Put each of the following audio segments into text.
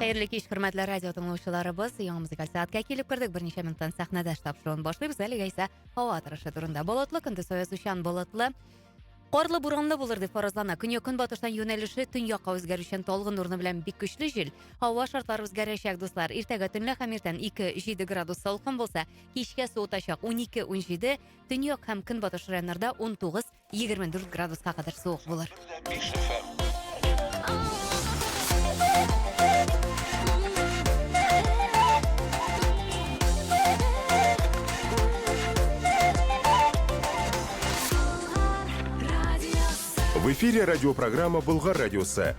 Хәерле кич, хөрмәтле радио тыңлаучыларыбыз. Яңа музыкаль сәгатькә килеп кердек. Берничә минуттан сәхнәдә штаб шоуын башлыйбыз. Әлегә исә һава торышы турында. Болытлы көндез оязучан болытлы. Карлы буранлы булыр дип фаразлана. Көньяк көнбатыштан юнәлеше төньякка үзгәрүчән талгын урыны белән бик көчле җил. Һава шартлары үзгәрәчәк, дуслар. Иртәгә төнлә һәм иртән 2-7 градус салкын булса, кичкә суытачак 12-17, төньяк һәм көнбатыш районнарда 19 Егерме дүрт градуска кадәр суык булыр. В эфире радиопрограмма «Болгар радиосы».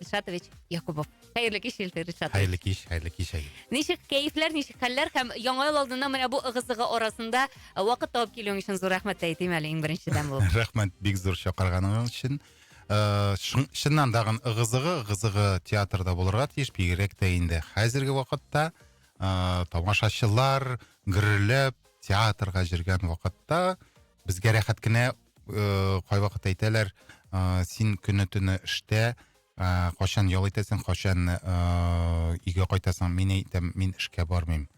Ришатович Якубов. Хәерле кич, Илфир Ришатович. Хәерле кич, хәерле кич, Айгөл. Ничек кәефләр, ничек хәлләр һәм яңа ел алдында менә бу ыгы-зыгы арасында э, вакыт табып килүең өчен зур рәхмәт тә әйтим әле иң беренчедән булып. Рәхмәт бик зур чакырганың өчен. Э, шын- Чыннан тагын ыгы-зыгы, ыгы-зыгы театрда булырга тиеш, бигрәк тә инде хәзерге вакытта э, тамашачылар гөрләп театрга җөргән вакытта безгә рәхәт кенә ыыы кайвакыт әйтәләр ыыы син көне төне эштә ыыы кайчан ял итәсең кайчан ыыы өйгә кайтасың мин әйтәм мин эшкә бармыйм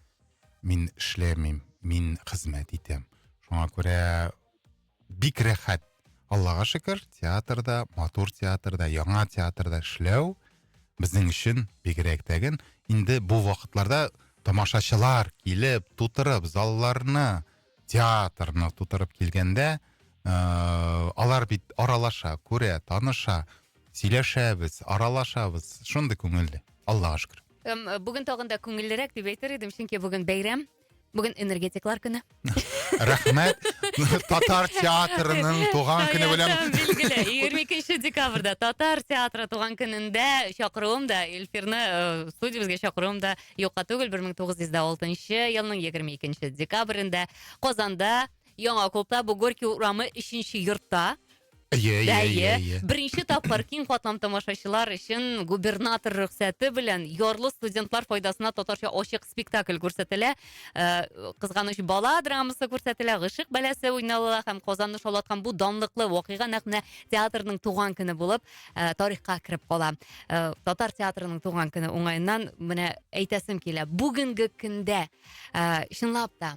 мин эшләмим мин хезмәт итәм шуңа күрә бик рәхәт аллага шөкер театрда матур театрда яңа театрда эшләү безнең өчен бигрәк тә инде бу вакытларда тамашачылар килеп тутырып залларны театрны тутырып килгәндә ыыы алар бит аралаша күрә таныша сөйләшәбез аралашабыз шундый күңелле аллаға шөкер эм бүген тагын да күңеллерәк дип әйтер едем чөнки бүген бәйрәм бүген энергетиклар көне рәхмәт татар театрының туган көне белән билгеле егерме икенче декабрьда татар театры туган көнендә чакыруым да эльфирны э, студиябезгә чакыруым да Юкка түгел, 1906 елның 22 декабрендә Казанда Яңа клубта, бу Горький урамы 3 йортта Иә, иә, иә, иә. Беренче тапкыр киң катлам тамашачылар өчен губернатор рөхсәте белән ярлы студентлар файдасына татарча ачык спектакль күрсәтелә. Э, Кызганыч бала драмасы күрсәтелә, гышык бәләсе уйналыла һәм Казанны шаулаткан бу данлыклы вакыйга нәкъ менә театрның туган көне булып ә, тарихка кереп кала. Ә, татар театрының туган көне уңаеннан менә әйтәсем килә. Бүгенге көндә ә, чынлап та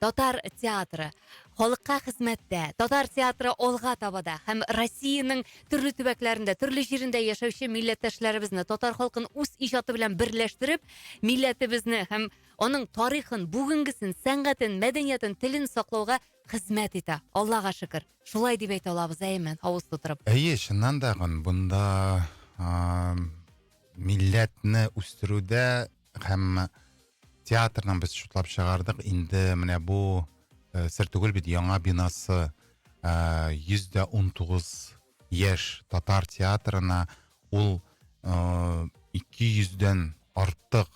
татар театры халыкка хезмәттә татар театры алга табада һәм россиянең төрле төбәкләрендә төрле җирендә яшәүче милләттәшләребезне татар халкын үз иҗаты белән берләштереп милләтебезне һәм аның тарихын бүгенгесен сәнгатен мәдәниятен телен саклауга хезмәт итә аллага шөкер Шулай дип әйтә алабыз, әйеме, авыз тутырып. Әйе, чыннан да, бунда ааа милләтне үстерүдә һәм театрның без шутлап чыгардык, инде менә бу э, сер түгел бит, яңа бинасы э, йөз дә унтугыз яшь татар театрына ул э, ике йөздән артык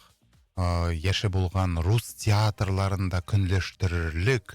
яше булган рус театрларын да көнләштерерлек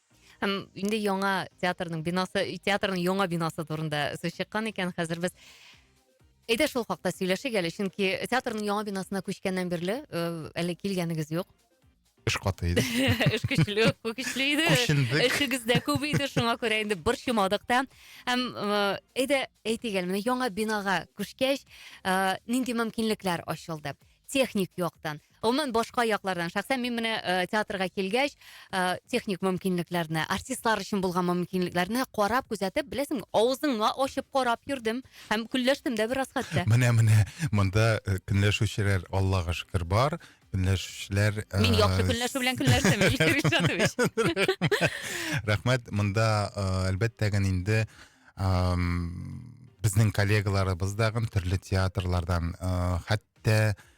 Һәм инде яңа театрның бинасы, театрның яңа бинасы турында сүз чыккан икән, хәзер без Әйдә шул хакта сөйләшик әле, чөнки театрның яңа бинасына күчкәннән бирле э, әле килгәнегез юк. Эш каты иде. Эш көчле, көчле иде. Күчендек. Эшегез дә күп иде, шуңа күрә инде борчымадык та. Һәм э, әйдә әйтик әле, менә яңа бинага күчкәч, э, нинди мөмкинлекләр ачылды? Техник яктан, Гомумән башка яклардан, шәхсән мин менә э, театрга килгәч, э, техник мөмкинлекләрне, артистлар өчен булган мөмкинлекләрне карап, күзәтеп, беләсең, авызыңны ачып карап йөрдем һәм көнләштем дә бераз хәтта. Менә менә монда э, көнләшүчеләр Аллага шөкер бар. Көнләшүчеләр э, Мин яхшы көнләшү белән көнләштем, Илһир Ильшатович. Рәхмәт. Монда э, әлбәттә генә инде ам, безнең коллегаларыбыз да гын төрле театрлардан э, хәтта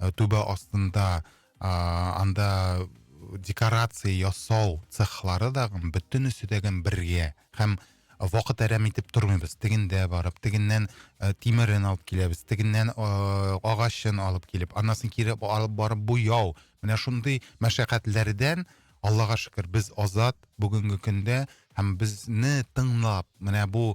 ы түбә астында ааа анда декорация ясау цехлары дагы бөтенесе дә бергә һәм вакыт әрәм итеп тормыйбыз теген дә барып тегеннән ы тимерен алып киләбез тегеннән ыыы агачын алып килеп анысын кире алып барып буяу менә шундый мәшәкатьләрдән аллага шөкер без азат бүгенге көндә һәм безне тыңлап менә бу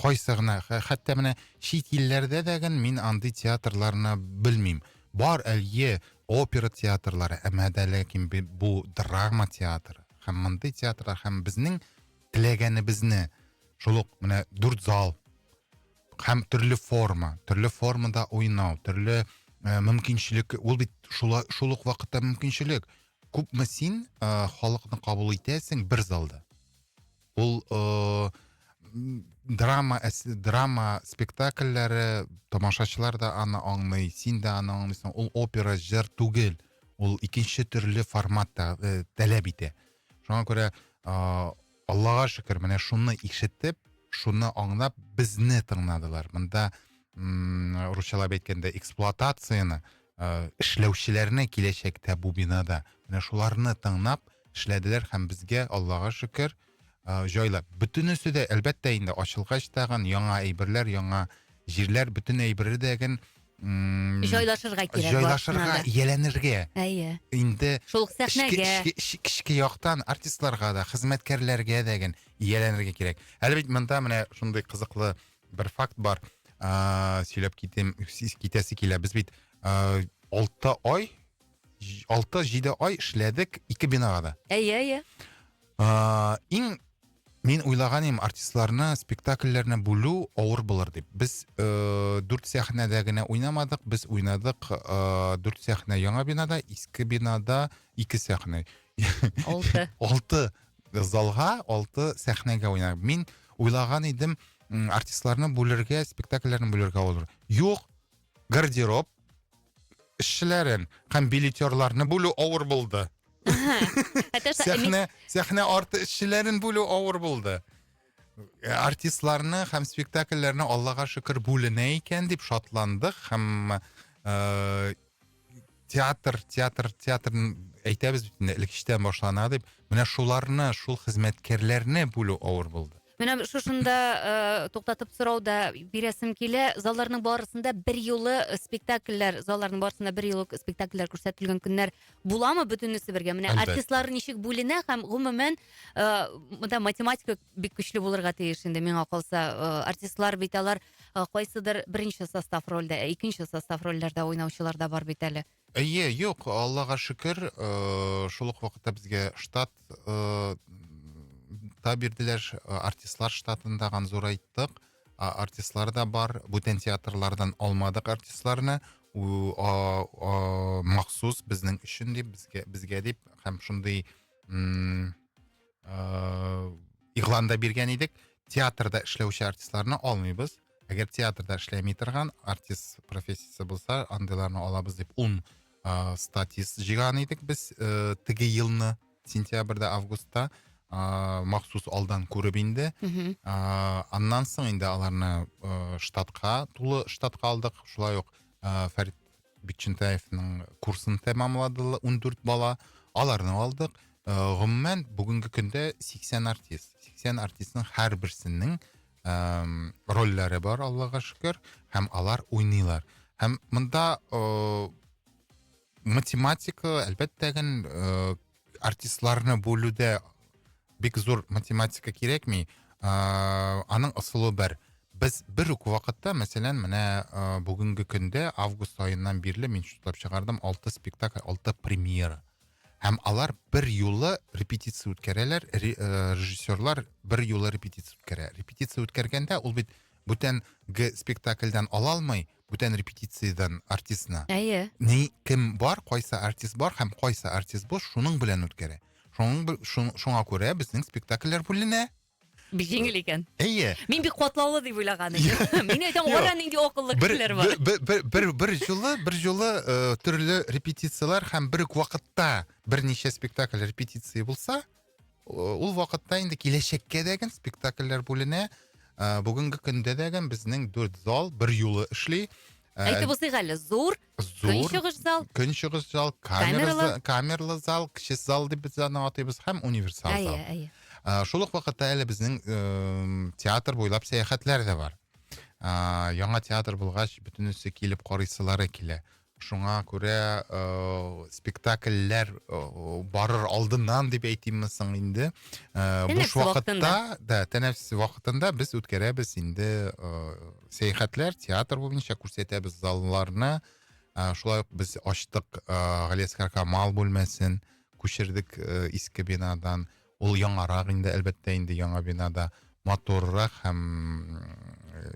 кайсы гына, хәтта менә чит илләрдә дә гын мин андый театрларны белмим. Бар, әле опера театрлары, әмма дә ләкин бу драма театры. Һәм мондый театрда һәм безнең теләгәнебезне шул ук менә дүрт зал һәм төрле форма, төрле формада уйнау, төрле ә, мөмкинчелек, ул бит шула, шул ук вакытта мөмкинчелек. Күпме син ә, халыкны кабул итәсең бер залда? Ул э, драма драма спектакльләре тамашачылар да аны аңлый, син дә аны аңлыйсың. Ул опера җыр түгел, ул икенче төрле форматта э, таләп итә. Шуңа күрә э, Аллага шөкер, менә шуны ишетеп, шуны аңлап безне тыңладылар. Монда русчалап әйткәндә эксплуатацияне ыыы эшләүчеләрне киләчәктә бу бинада менә шуларны тыңнап эшләделәр һәм безгә аллага шөкер ы җайлап бөтенесе дә әлбәттә инде ачылгач тагын яңа әйберләр яңа җирләр бөтен әйбердәген ммм җайлашырга кирәк җайлашырга ияләнергә әйе инде шул ук сәхнәгә эчке яктан артистларга да хезмәткәрләргә дә ияләнергә кирәк әле бит монда менә шундый кызыклы Бер факт бар. Ә, сөйләп китем, сез китәсе килә. Без бит ә, 6 ай 6-7 ай эшләдек ике бинага да. Әйе, әйе. Ә, иң Мин уйлаган едім артистларны спектакльләрне бүлу авыр булыр дип. Без э, дүрт сәхнәдә генә уйнамадык, без уйнадык э, дүрт сәхнә яңа бинада, иске бинада ике сәхнә. Алты. Алты залга, алты сәхнәгә уйнар. Мин уйлаган идем, артистларны бүлергә, спектакльләрне бүлергә булыр. Юк, гардероб эшчеләрен һәм билетерларны бүлү авыр булды. Сәхнә, сәхнә арты эшчеләрен бүлү авыр булды. Э, артистларны һәм спектакльләрне Аллага шөкер бүленә икән дип шатландык һәм э, театр театр театр әйтәбез бит инде элек эчтән башлана дип менә шуларны шул хезмәткәрләрне бүлү авыр булды менә шушында э, туктатып сорау да бирәсем килә залларның барысында бер юлы спектакльләр залларның барысында бер юлы спектакльләр күрсәтелгән көннәр буламы бөтенесе бергә менә Әлбәттә. артистлар ничек бүленә һәм гомумән э, монда математика бик көчле булырга тиеш инде миңа калса э, артистлар бит алар э, кайсыдыр беренче состав рольдә, ә икенче состав рольләрдә уйнаучылар да бар бит әле. Әйе, юк, Аллага шөкер, э, шул ук вакытта безгә штат э, та бирделәр, ш- э, артистлар штатын тагын зурайттык. А, Артистлар да бар, бүтән театрлардан алмадык артистларны, у- а- а, махсус безнең өчен дип, безгә, безгә дип, һәм шундый м, ыыы игълан да биргән идек театрда эшләүче артистларны алмыйбыз әгәр театрда эшләми торган артист профессиясе булса андыйларны алабыз дип ун ыыы статист жиған идек без ыыы теге елны сентябрьдә августта ыыы махсус алдан күреп инде мхм ыыы аннан соң инде аларны ыыы штатка тулы штатка алдык шулай ук ыыы фәрит Бикчентаевның курсын тәмамладылар, ундүрт бала. Аларны алдык. Э, гомумән, бүгенге көндә 80 артист. 80 артистның һәр берсенең эм, рольләре бар, Аллага шөкер, һәм алар уйныйлар. Һәм монда э, математика, әлбәттә, ген, э, артистларны бүлүдә бик зур математика кирәкми аның ысулы бер без бер үк вакытта мәсәлән менә бүгенге көндә август аеннан бирле мин счетлап чыгардым алты спектакль алты премьера һәм алар бер юлы репетиция үткәрәләр режиссерлар бер юлы репетиция үткәрә репетиция үткәргәндә ул бит бүтәнге спектакльдән ала алмый бүтән репетициядән артистны. Әйе. Ни кем бар, кайсы артист бар һәм кайсы артист бу шуның белән үткәрә. Шуның шуңа күрә безнең спектакльләр бүленә. Бик җиңел икән. Әйе. Мин бик катлаулы дип уйлаган идем. Мин әйтәм, ара нинди акыллы кешеләр бар. Бер бер җылы, бер җылы э, төрле репетицияләр һәм бер үк вакытта берничә спектакль репетиция булса, Ул вакытта инде киләчәккә дә гел спектакльләр бүленә. Ә, бүгенге көндә дә гел безнең дүрт зал бер юлы эшли. Ә, Әйтеп узыйк әле, зур, зур көнчыгыш зал. Көнчыгыш зал, камерлы, камерлы зал, кече зал дип без аны атыйбыз һәм универсал зал. Әйе, әйе. Ә, шул ук вакытта әле безнең э, театр буйлап сәяхәтләр дә бар. Ә, яңа театр булгач, бөтенесе килеп карыйсылары килә. Шуңа күрә спектакльләр барыр алдыннан дип әйтимме соң инде, буш вакытта, да, тәнәфес вакытында без үткәрәбез инде сәяхәтләр, театр буенча күрсәтәбез залларны. Шулай ук без ачтык Галиәсгар Камал бүлмәсен, күчердек иске бинадан. Ул яңарак инде, әлбәттә, инде яңа бинада матуррак һәм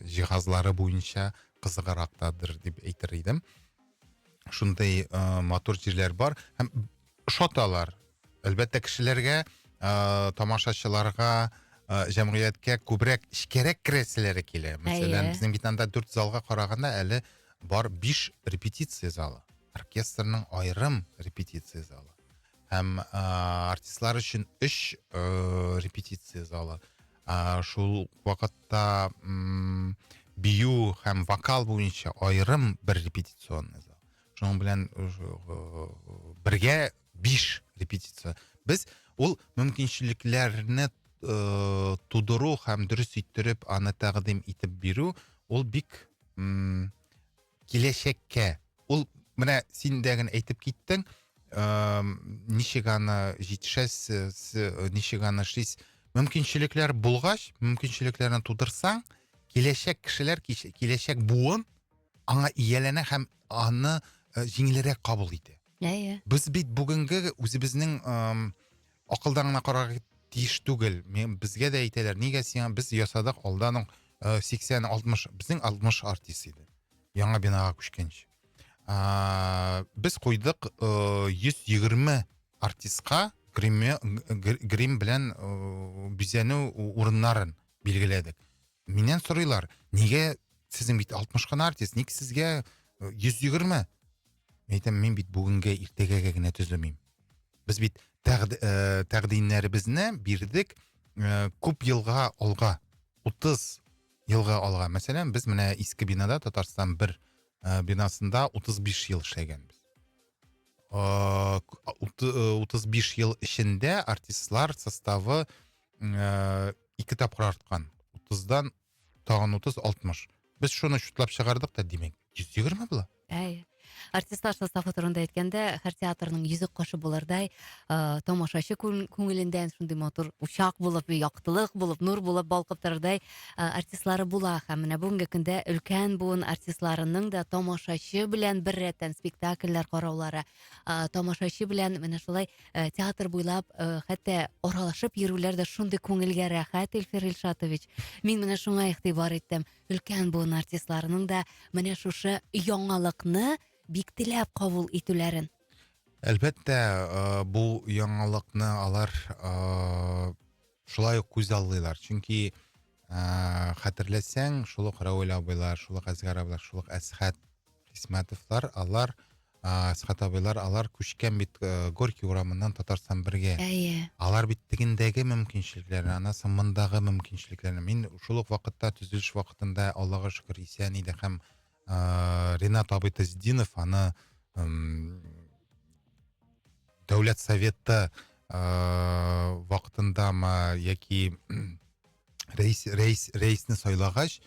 җиһазлары буенча кызыгырактадыр дип әйтер идем. Шундый э, матур җирләр бар һәм ошаталар. Әлбәттә, кешеләргә, э, тамашачыларга, э, җәмгыятькә күбрәк эчкәрәк керәселәре килә. Мәсәлән, безнең битанда дүрт залга караганда әле бар биш репетиция залы. Оркестрның аерым репетиция залы. һәм ыыы артистлар өчен өч ыыы репетиция залы ыыы шул вакытта ммм бию һәм вокал буенча аерым бер репетиционный зал шуның белән ыыы бергә биш репетиция без ул мөмкинчелекләрне ыыы тудыру һәм дөрес иттереп аны тәкъдим итеп бирү ул бик ммм киләчәккә ул менә син дә генә әйтеп киттең ничек аны җитешәсез ничек аны эшлисез мөмкинчелекләр булгач мөмкинчелекләрне тудырсаң киләчәк кешеләр киләчәк буын аңа ияләнә һәм аны җиңелрәк кабул итә иә иә без бит бүгенге үзебезнең акылдан гына карарга тиеш түгел мен безгә дә әйтәләр нигә сиңа без ясадык алда аның э, сиксән алтмыш безнең алтмыш артист иде яңа бинага күчкәнче ә, без куйдык э, йөз егерме артистка грим белән э, бизәнү урыннарын билгеләдек миннән сорыйлар нигә сезнең бит алтмыш кына артист ник сезгә йөз егерме Мен әйтәм, мин бит бүгенгә, иртәгәгә генә төземим. Без бит тәкъди, э, тәкъдимнәребезне бирдек э, күп елга алга, 30 елга алга. Мәсәлән, без менә иске бинада Татарстан бер э, бинасында 35 ел эшләгәнбез. Э, ут- э, 35 ел эчендә артистлар составы э, ике тапкыр арткан. 30-дан Тагын утыз, алтмыш. Без шуны чутлап чыгардык та, димәк, йөз егерме була. Әй. Артистлар составы турында әйткәндә, һәр театрның йөзек кашы булырдай, э, тамашачы күн- күңелендә шундый матур учак булып, яктылык булып, нур булып балкып торырдай э, артистлары була. Һәм менә бүгенге көндә өлкән буын артистларының да тамашачы белән беррәттән спектакльләр караулары, э, тамашачы белән менә шулай э, театр буйлап э, хәтта аралашып йөрүләр дә шундый күңелгә рәхәт, Илфир Илшатович. Мин менә шуңа игътибар иттем. Өлкән буын артистларының да менә шушы яңалыкны бик теләп кабул итүләрен. Әлбәттә, э, бу яңалыкны алар э, шулай ук күзаллыйлар чөнки ыыы хәтерләсәң шул ук равил абыйлар шул ук әсгар абыйлар шул ук әсхат хисмәтовлар алар ыыы әсхат абыйлар алар күчкән бит ыыы горький урамыннан татарстан бергә әйе алар бит тегендәге мөмкинчелекләр анысы мондагы мөмкинчелекләр мин шул ук вакытта төзелеш вакытында аллага шөкер исән иде һәм ә, ренат абый тазидинов аны әм, дәүләт советы ә, вакытындамы яки рәис рәис рәисне сайлагач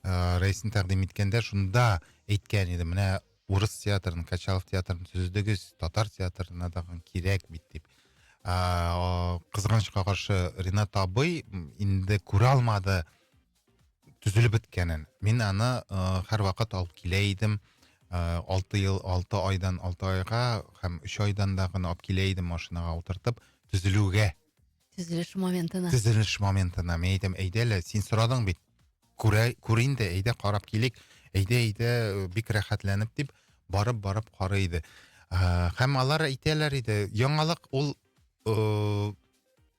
ә, рәисне тәкъдим иткәндә шунда әйткән иде менә урыс театрын качалов театрын төзедегез татар театрына тагын кирәк бит дип ә, кызганычка каршы ренат абый инде күрә алмады төзелеп беткәнен мин аны э, һәрвакыт алып килә идем э, алты ел алты айдан алты айга һәм өч айдан да гына алып килә идем машинаға утыртып төзелүгә төзелеш моментына төзелеш моментына мен әйтәм әйдә әле син сорадың бит күрә күр инде әйдә карап килик әйдә әйдә бик рәхәтләнеп дип барып барып карый иде ә, һәм алар әйтәләр иде яңалык ул ә,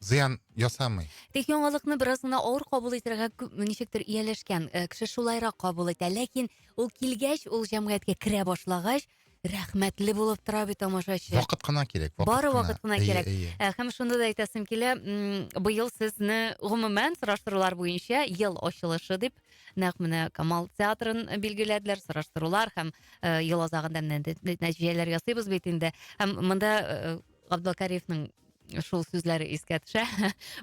зыян ясамый. Тик яңалыкны бераз гына авыр кабул итәргә күп ничектер ияләшкән э, кеше шулайрак кабул итә. Ләкин ул килгәч, ул җәмгыятькә керә башлагач, рәхмәтле булып тора бит тамашачы. Вакыт кына кирәк. Вакыт Бары вакыт кына әйе, кирәк. Әйе. Э, Һәм шунда да әйтәсем килә, м, быел сезне гомумән сораштырулар буенча ел ачылышы дип, нәкъ менә Камал театрын билгеләделәр, сораштырулар һәм э, ел азагында менә нә- нәтиҗәләр ясыйбыз бит инде. Һәм монда э, Габдулкариевның шул сүзләре искә төшә.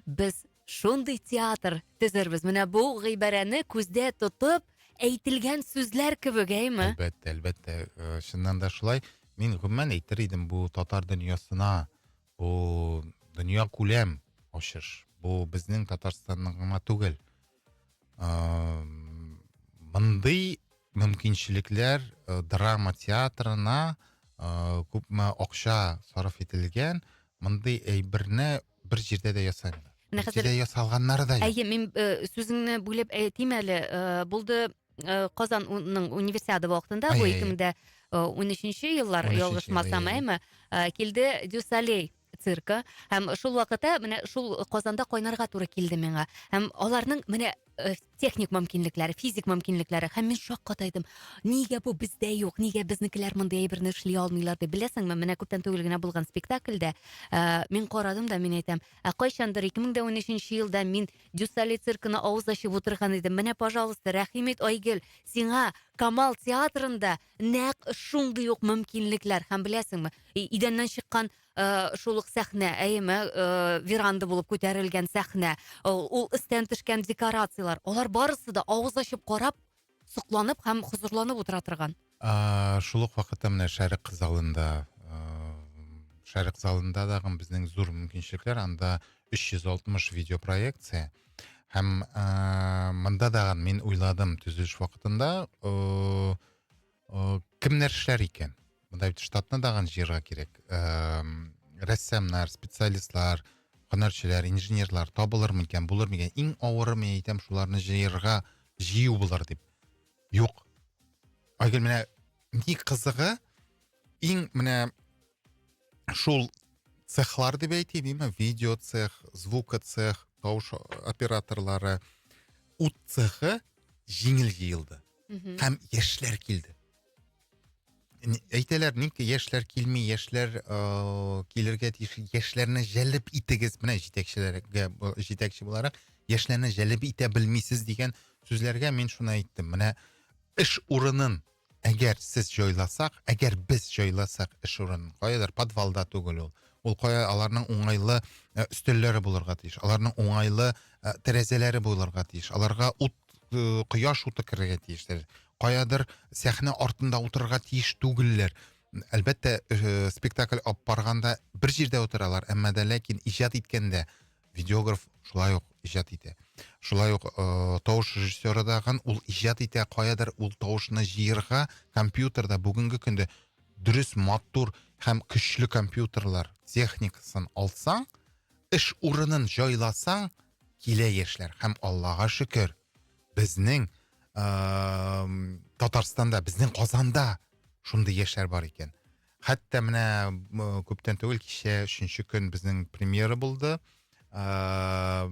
Без шундый театр төзербез. Менә бу гыйбарәне күздә тотып әйтелгән сүзләр кебек, әйме? Әлбәттә, әлбәттә, э, чыннан да шулай. Мин гомумән әйтер идем, бу татар дөньясына, бу дөнья күләм ачыш. Бу безнең Татарстанның гына түгел. Э, мондый мөмкинчелекләр э, драма театрына э, күпме акча сарыф ителгән, мондый әйберне бер җирдә дә ясамыйлар. Менә Бер хәзер- җирдә ясалганнары да юк. Әйе, мин э, сүзеңне бүлеп әйтим әле. Э, Булды э, Казан уның универсиада вакытында, бу Әйе, әйе. 2013 еллар, 13-нче, ялгышмасам, әйе. әйме? Э, Килде Дюсалей. циркы һәм шул вакыта менә шул казанда кайнарга туры килде миңа һәм аларның менә э, техник мөмкинлекләре физик мөмкинлекләре һәм мин шаккатайдым нигә бу бездә юк нигә безнекеләр мондый әйберне эшли алмыйлар дип беләсеңме менә күптән түгел генә булган спектакльдә ә, мин карадым да мин әйтәм ә кайчандыр 2013 елда мин дюсали циркына авыз ачып утырган идем менә пожалуйста рәхим ит айгөл сиңа камал театрында нәкъ шундый ук мөмкинлекләр һәм беләсеңме идәннән чыккан э, шул ук сәхнә әйеме э, веранда булып күтәрелгән сәхнә ул, ул өстән төшкән декорациялар алар барысы да авыз ачып карап сокланып һәм хозурланып утыра торган Ааа, шул ук вакытта менә Шәрык залында, ыыы, Шәрык залында дагы безнең зур мөмкинчелекләр, анда 360 видеопроекция, Һәм э, монда дагын мин уйладым төзелеш вакытында э, э, кемнәр эшләр икән? Монда бит штатны дагын җыярга кирәк. Э, рәссамнар, специалистлар, һөнәрчеләр, инженерлар табылыр микән, булыр микән? Иң авыры мин әйтәм, шуларны җыярга җыю булыр дип. Юк. Айгөл менә ни кызыгы, Иң менә шул цехлар дип әйтим, именно видео цех, звука цех, тавыш операторлары, ут цехы җиңел җыелды. Һәм яшьләр килде. Әйтәләр, ник яшьләр килми, яшьләр э, килергә тиеш, яшьләрне җәлеп итегез, менә җитәкчеләргә җитәкче буларак, яшьләрне җәлеп итә белмисез дигән сүзләргә мин шуны әйттем. Менә эш урынын Әгәр сез җайласак, әгәр без җайласак эш урын, каядыр подвалда түгел ул. Ул кая аларның уңайлы э, өстәлләре булырга тиеш, аларның уңайлы э, тәрәзәләре булырга тиеш, аларга ут, э, кояш уты керергә тиеш. Каядыр сәхнә артында утырырга тиеш түгелләр. Әлбәттә, спектакль алып барганда бер җирдә утыралар, әмма дә ләкин иҗат иткәндә видеограф шулай ук иҗат итә шулай ук э, тавыш режиссеры да ул иҗат итә каядыр ул тавышны җыерга компьютерда бүгенге көндә дөрес матур һәм көчле компьютерлар техникасын алсаң эш урынын җайласаң килә яшьләр һәм аллага шөкер безнең ә, татарстанда безнең казанда шундый яшьләр бар икән Хәтта менә күптән түгел кичә өченче көн безнең премьера булды. Ә,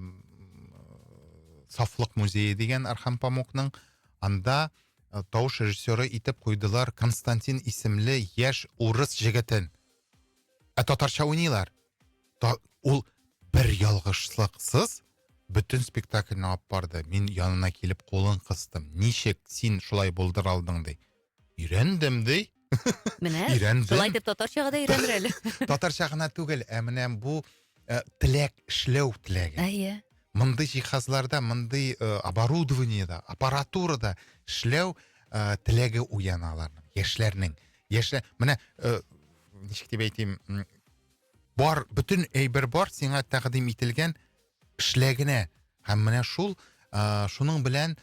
Сафлык музее дигән Архан Памукның анда э, тавыш режиссеры итеп куйдылар Константин исемле яшь урыс җегетен. Ә татарча уйныйлар. Та, ул бер ялгышлыксыз бөтен спектакльне алып барды. Мин янына килеп кулын кыстым. Ничек син шулай булдыра алдың ди. Өйрәндем, ди. Менә, шулай итеп татарчага да өйрәнер әле. Татарча гына түгел, ә менә бу э, теләк, эшләү теләге. Әйе. Мондый җиһазларда, мондый э, оборудованиеда, аппаратурада эшләү э, теләге уяна аларның, яшьләрнең. Яшьләр, менә ничек дип әйтим, бар, бөтен әйбер бар, сиңа тәкъдим ителгән, Эшләгенә һәм менә шул э, шуның белән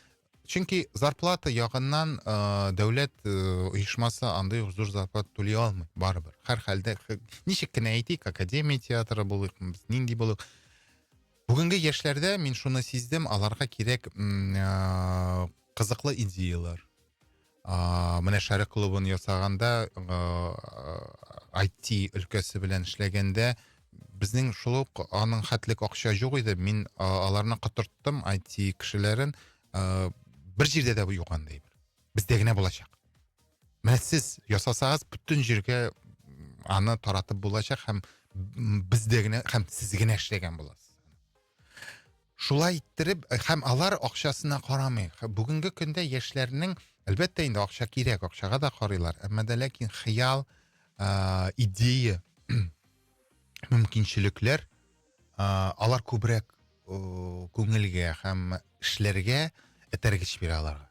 чөнки зарплата ягыннан э, дәүләт э, оешмасы андый ук зур зарплата түли алмый барыбер һәрхәлдә ничек кенә әйтик академия театры булыйк без нинди булыйк бүгенге яшьләрдә мин шуны сиздем аларга кирәк э, кызыклы идеялар Ааа, менә Шәрык клубын ясаганда, ааа, IT өлкәсе белән эшләгәндә, безнең шул ук аның хәтлек акча юк иде, мин а аларны котырттым, IT кешеләрен, ааа, бер җирдә дә юк андый, бездә генә булачак. Менә сез ясасагыз, бөтен җиргә аны таратып булачак һәм бездә генә һәм сез генә эшләгән буласыз. Шулай иттереп, э, һәм алар акчасына карамый. Бүгенге көндә яшьләрнең, әлбәттә инде акча кирәк, акчага да карыйлар, әмма дә ләкин хыял, ә, идея, мөмкинчелекләр, ә, алар күбрәк күңелгә һәм эшләргә этәргеч бирә аларга.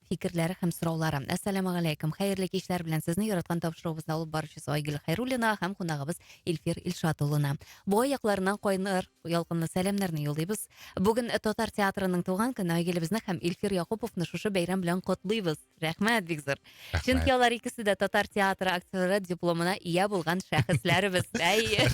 фикерләре һәм сораулары. Әссәламу галәйкүм. Хәерле кичләр белән сезне яраткан тапшыруыбызны алып баручысы Айгөл Хайруллина һәм кунагыбыз Илфир Илшат улына. Буа якларыннан кайнар ялкынлы сәламнәрне юллыйбыз. Бүген татар театрының туган көне Айгелебезне һәм Илфир Якуповны шушы бәйрәм белән котлыйбыз. Рәхмәт бик зур. Рәхмәт. Чөнки алар икесе дә татар театры актеры дипломына ия булган шәхесләребез. Әйе.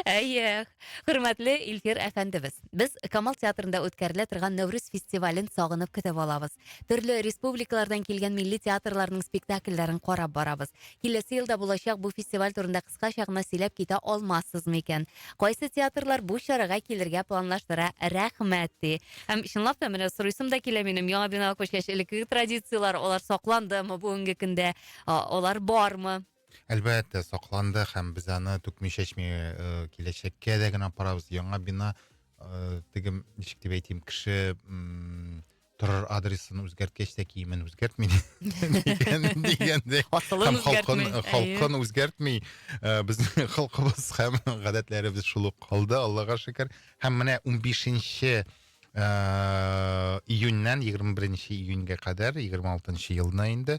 Әйе. Хөрмәтле Илфир әфәндебез, без Камал театрында үткәрелә торган Нәүрүз фестивален сагынып көтеп алабыз. Төрле республикалардан килгән милли театрларның спектакльләрен карап барабыз. Киләсе елда булачак бу фестиваль турында кыскача гына сөйләп китә алмассыз микән? Кайсы театрлар бу чарага килергә планлаштыра? Рәхмәт, ди. Һәм чынлап та, менә сорыйсым да килә минем, яңа бина күчкәч, элеккеге традицияләр, алар сакландымы бүгенге көндә, алар бармы? Әлбәттә, сакланды һәм без аны түкми-чәчми э, киләчәккә дә генә апарабыз. Яңа бина э, теге ничек дип әйтим, кеше м, торыр адресын үзгәрткәч тә киемен үзгәртми дигән- дигәндәй. Асылын Һәм халкын, үзгәртми. халкын үзгәртми. Э, Безнең халкыбыз һәм гадәтләребез шул ук калды, Аллага шөкер. Һәм менә 15 э, июньнән 21 июньгә кадәр, 26 елны инде,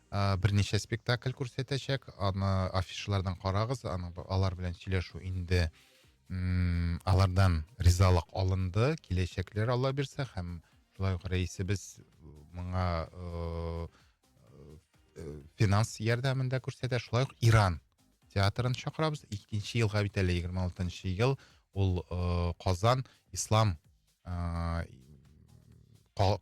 Ә, берничә спектакль күрсәтәчәк, аны афишалардан карагыз, аны алар белән сөйләшү инде м алардан ризалык алынды, киләчәкләр Алла бирсә һәм шулай ук рәисебез моңа ыыы финанс ярдәмен дә күрсәтә, шулай ук Иран театрын чакырабыз, икенче елга бит әле егерме алтынчы ел, ул ыыы Казан ислам ә,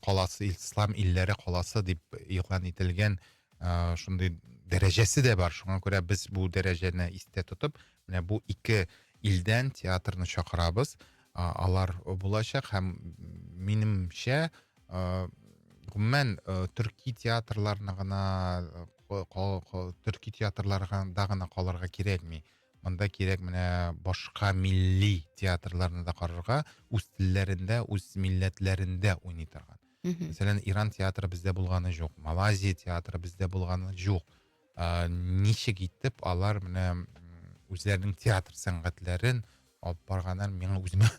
каласы ислам илләре каласы дип игълан ителгән ә, шундый дәрәҗәсе дә бар шуңа күрә без бу дәрәҗәне истә тотып менә бу ике илдән театрны чакырабыз ә, алар булачак һәм минемчә ә, гомумән ә, төрки театрларына гына төрки театрларда гына калырга кирәкми Монда кирәк менә башка милли театрларны да карарга, үз телләрендә, үз милләтләрендә уйный торган. Мәсәлән, Иран театры бездә булганы жоқ, Малайзия театры бездә булганы жоқ. Ә, ничек итеп алар менә үзләренең театр сәнгатьләрен алып барганнар, миңа үземә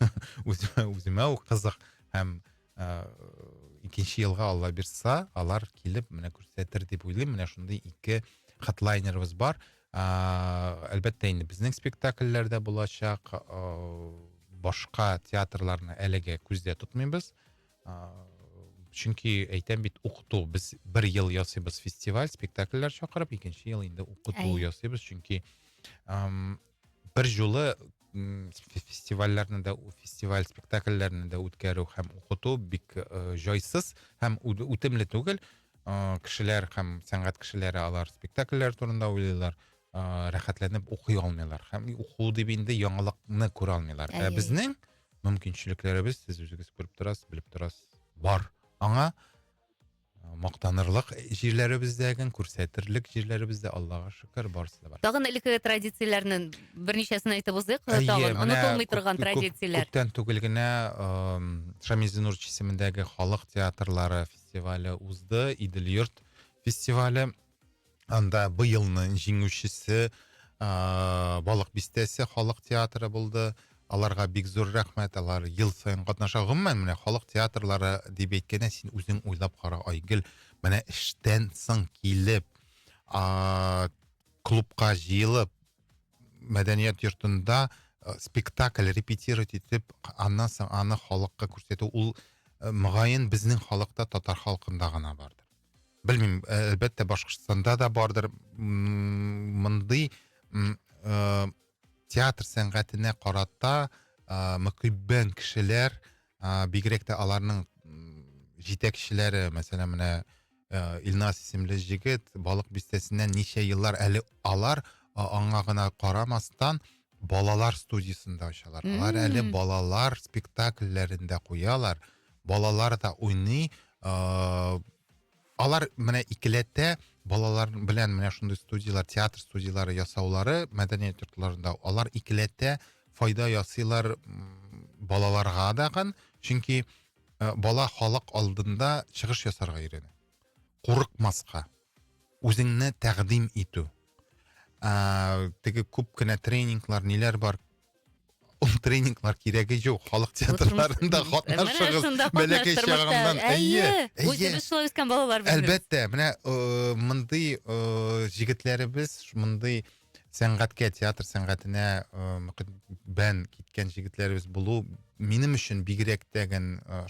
үземә, үземә ул кызык һәм ыыы икенче елга алла бирса алар килеп менә күрсәтер дип уйлыйм менә шундый ике хедлайнерыбыз бар ыыы әлбәттә инде безнең спектакльләр дә булачак ыыы башка театрларны әлегә күздә тотмыйбыз ыыы чөнки әйтәм бит укыту без бер ел ясыйбыз фестиваль спектакльләр чакырып икенче ел инде укыту ясыйбыз чөнки ыыы бер жолы м фестивальләрне дә фестиваль спектакльләрне дә үткәрү һәм укыту бик э, җайсыз һәм үтемле түгел э, кешеләр һәм сәнгать кешеләре алар спектакльләр турында уйлыйлар э, рәхәтләнеп укый алмыйлар һәм уку дип инде яңалыкны күрә алмыйлар ә безнең мөмкинчелекләребез сез үзегез күреп торасыз белеп торасыз бар аңа Мактанырлык җирләребез дә икән, күрсәтерлек җирләребез дә, Аллага шөкер, барысы да бар. Тагын элекке традицияләрне берничәсен әйтеп узыйк, тагын онытылмый торган традицияләр. Күптән түгел генә Шамил Зинурович исемендәге халык театрлары фестивале узды, Идел-йорт фестивале. Анда быелның җиңүчесе ыыы балык бистәсе халык театры булды. Аларга бик зур рәхмәт, алар ел саен катнаша. Гомумән, менә халык театрлары дип әйткәндә, син үзең уйлап кара, Айгөл, менә эштән соң килеп ааа клубка җыелып, мәдәният йортында э, спектакль репетировать итеп, аннан соң аны халыкка күрсәтү, ул, э, мөгаен, безнең халыкта, татар халкында гына бардыр. Белмим, әлбәттә Башкортстанда да бардыр. Мондый э, театр сәнгатенә карата э, мөкиббән кешеләр, э, бигрәк тә аларның җитәкчеләре, мәсәлән, менә э, Илнас исемле җегет Балык бистәсеннән ничә еллар әле алар аңа гына карамастан балалар студиясендә очалар. Алар әле балалар спектакльләрендә куялар. балалар да уйный ыыы алар менә икеләтә балалар белән менә шундый студияләр театр студияләре ясаулары мәдәният йортларында алар икеләтә файда ясыйлар ммм балаларга дагы чөнки ы бала халык алдында чыгыш ясарга өйрәнә курыкмаска үзеңне тәкъдим итү ыыы теге күп кенә тренинглар ниләр бар Ул тренинглар кирәге жоқ. Халық театрларында катнашыгыз. Бәләкәй чагымнан. Әйе. Үзе без шулай үскән балалар бит. Әлбәттә, менә э, мондый э, җегетләребез, мондый сәнгатькә, театр сәнгатенә э, бән киткән җегетләребез булу минем өчен бигрәк тә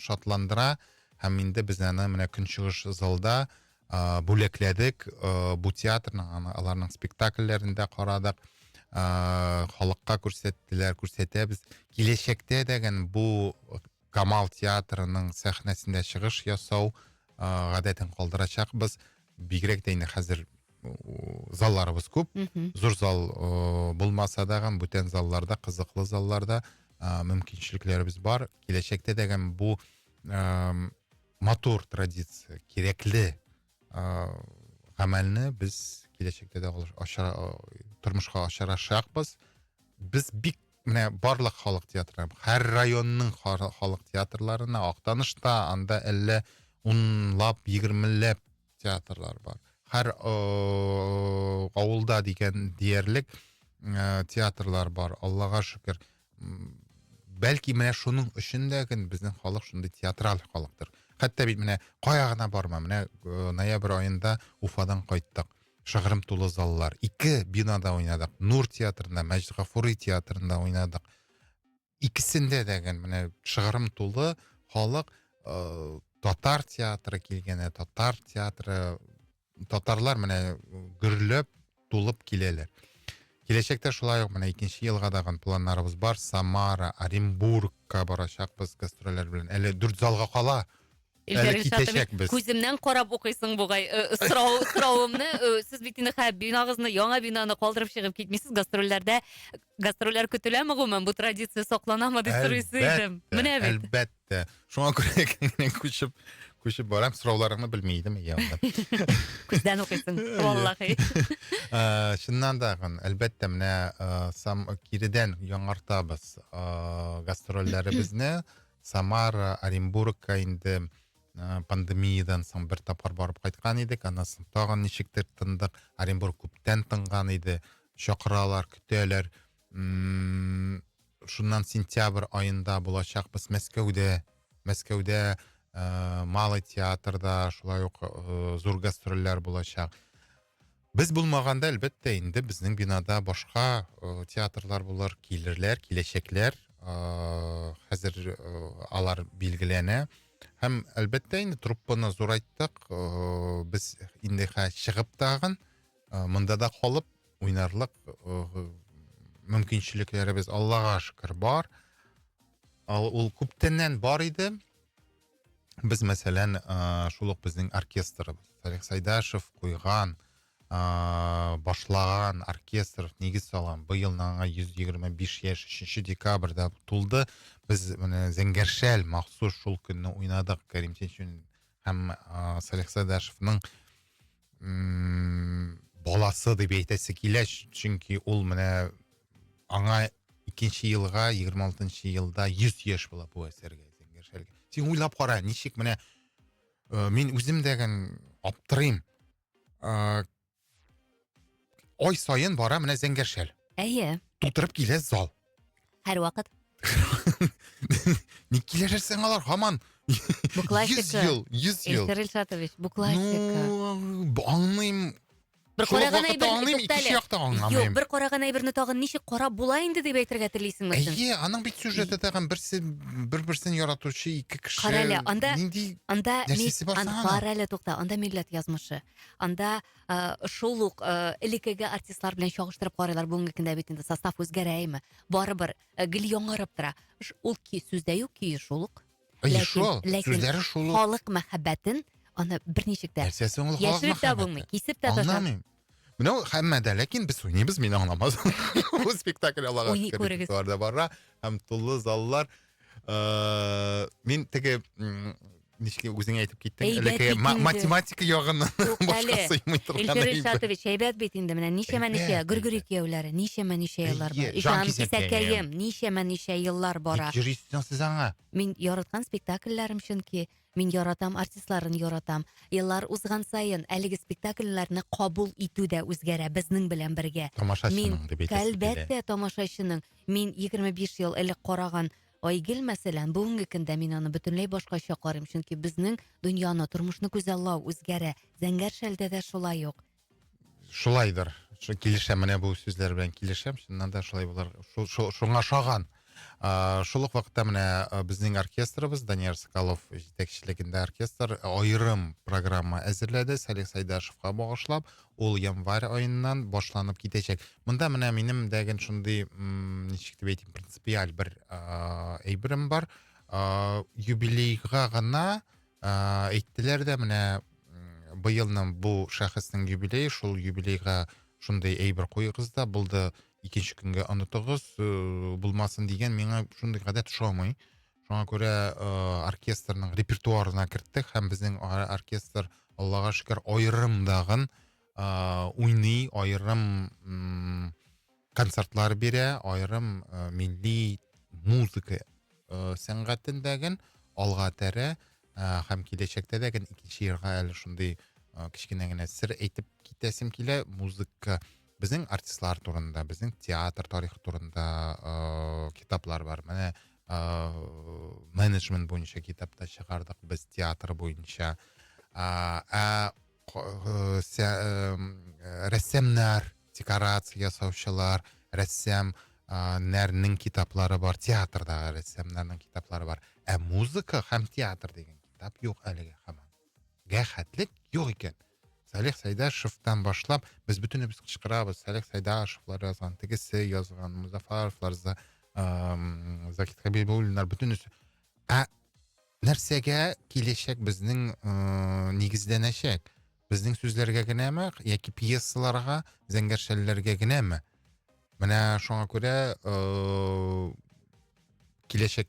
шатландыра һәм инде без аны менә көнчыгыш залда ә, бүләкләдек. Ә, бу театрны аны аларның спектакльләрен дә карадык. Ә, халыкка күрсәттеләр, күрсәтәбез. Киләчәктә дә гән бу Камал театрының сәхнәсендә чыгыш ясау ә, гадәтен калдырачакбыз. Бигрәк тә инде хәзер залларыбыз күп. Зур зал ә, булмаса да гән бүтән залларда, кызыклы залларда ә, мөмкинчелекләребез бар. Киләчәктә дә гән бу ә, матур традиция кирәкле ыыы гамәлне без киләчәктә дә тормышка ашырачакбыз без бик менә барлык халык театры һәр районның халык театрларына актанышта анда әллә унлап егермеләп театрлар бар һәр ыыы авылда дигән диярлек ыыы театрлар бар аллага шөкер бәлки менә шуның өчен дә безнең халык шундый театраль халыктыр хәтта бит менә кая гына барма менә э, ноябрь аенда уфадан кайттык шыгрым тулы заллар ике бинада уйнадык нур театрында мәжит гафури театрында уйнадык икесендә дә менә шыгрым тулы халык ә, татар театры килгәне татар театры татарлар менә гөрләп тулып киләләр. Киләчәктә шулай ук менә икенче елга дагын планнарыбыз бар. Самара, Оренбургка барачакбыз гастрольләр белән. Әле дүрт залга кала. Әле китәчәкбез. Күземнән карап укыйсың бугай. Э, сорау соравымны э, сез бит инде хәб бинагызны, яңа бинаны калдырып чыгып китмисез. Гастрольләрдә гастрольләр көтеләме гомумән? Бу традиция сакланамы дип сорыйсы идем. Менә бит. Әлбәттә. Ә, шуңа күрә киңрәк күчеп күчеп барам, сорауларыңны белми идем, иә. Күздән укыйсың, валлахи. Ә, чыннан да, әлбәттә, менә ә, сам киридән яңартабыз ә, гастрольләребезне. Самара, Оренбургка инде ә, пандемиядан соң бер тапкыр барып кайткан идек, аннан соң тагын ничектер тындык. Оренбург күптән тынган иде, чакыралар, көтәләр. Мм, шуннан сентябрь аенда булачакбыз Мәскәүдә. Мәскәүдә э, Малый театрда шулай ук э, зур гастрольләр булачак. Без булмаганда, әлбәттә, инде безнең бинада башка э, театрлар булыр, килерләр, киләчәкләр. Э, хәзер э, алар билгеләнә. Һәм, әлбәттә, инде труппаны зурайттык. Э, без инде хә чыгып тагын. Э, монда да калып уйнарлык э, мөмкинчелекләребез аллага шөкер бар ал ул күптәннән бар иде без мәсәлән э, шул ук безнең оркестрыбыз салих сайдашев куйган башлаган оркестр негіз салган быел аңа 125 яшь 3 декабрьда тулды без менә зәңгәршәл махсус шул көнне уйнадык кәрим сенчүн һәм салих сайдашевның баласы дип әйтәсе килә чөнки ул менә аңа икенче елга егерме алтынчы елда йөз яшь була бу әсәргә син уйлап кара ничек менә ә, мин үзем дәген аптырыйм ә, ай сайын бара менә зәңгәршәл әйе тутырып килә зал Һәрвакыт. Ник килешерсең алар һаман? Букласика. 100 ел, 100 ел. Илсир Илшатович, букласика. Ну, аңлыйм. Бер Шул ук караган вакытта әйберне аңлыйм, туктале. икенче якта Юк, аңламыйм. бер караган әйберне тагын ничек карап була инде дип әйтергә телисеңме син? Әйе, аның бит сюжеты тагын берсе бер-берсен яратучы ике кеше. Карале, анда- Нинди Анда нәрсәсе бар ан- соң аның? кара әле тукта, анда милләт язмышы. Анда Э, шул ук э, элеккеге артистлар белән чагыштырып карыйлар бүгенге көндә бит инде состав үзгәрәме барыбер э, гел яңарып тора ул сүздә юк көе шул ук сүзләре шул ук халык мәхәббәтен аны берничек тә яшереп тә булмый кисеп тә аңламыйм менә ул һәммәдә ләкин без уйныйбыз мин аңламадым бу спектакль аллага шөкер репертуарда бара һәм тулы заллар ыыы мен теге ничек үзең әйтеп киттең әйбәт математика ягыннан башка сыймый торган илшат илшатович әйбәт бит инде менә ничәмә ничә гөргөри кияүләре ничәмә ничә еллар бар җан кисәкәем ничәмә ничә еллар бара йөрисең сез аңа мин яраткан спектакльләрем чөнки мин яратам артистларын яратам еллар узган саен әлеге спектакльләрне кабул итү дә үзгәрә безнең белән бергә тамашачының дип әйтәсез әлбәттә тамашачының Мин 25 ел элек караган Айгел мәсәлән, бүгенге көндә мин аны бөтенләй башкача карыйм, чөнки безнең дөньяны, тормышны күзаллау үзгәрә. Зәңгәр шәлдә дә шулай ук. Шулайдыр. Килешәм, менә бу сүзләр белән килешәм. Чыннан да шулай булар. Шуңа шаган. Шул ук вакытта менә безнең оркестрыбыз Данияр Соколов җитәкчелегендә оркестр аерым программа әзерләде Салих Сайдашевка багышлап. Ул январь аеннан башланып китәчәк. Монда менә минем дә гел шундый, ничек дип әйтим, принципиаль бер әйберем бар. Юбилейга гына әйттеләр дә менә быелның бу шәхеснең юбилее, шул юбилейга шундый әйбер куегыз да булды, икенче көнгә онытыгыз, э, булмасын дигән миңа шундый гадәт ошамый. Шуңа күрә э, оркестрның репертуарына керттек һәм безнең оркестр Аллага шөкер аерым дагын э, уйный, аерым м, концертлар бирә, аерым э, милли музыка э, сәнгатен дәген алга тәрә э, һәм киләчәктә дәген икенче елга әле шундый э, кечкенә генә сер әйтеп китәсем килә, музыка Безнең артистлар турында, безнең театр тарихы турында ыыы китаплар бар. Менә ыыы менеджмент буенча китап та чыгардык без театр буенча. Ә рәссамнар, декорация ясаучылар, рәссам нәрнең китаплары бар, театрдагы рәссамнарның китаплары бар. Ә музыка һәм театр дигән китап юк әлегә һаман. рәхәтлек юк икән. Салих Сәйдашевтан башлап без бөтенебез кычкырабыз. Салих Сәйдашевлар язган, тегесе язган, Музафаровлар, за, ә, Закит Хабибуллиннар бөтенесе. Ә нәрсәгә киләчәк безнең ә, нигезләнәчәк? Безнең сүзләргә генәме яки пьесаларга, зәңгәршәлләргә генәме? Менә шуңа күрә ә, киләчәк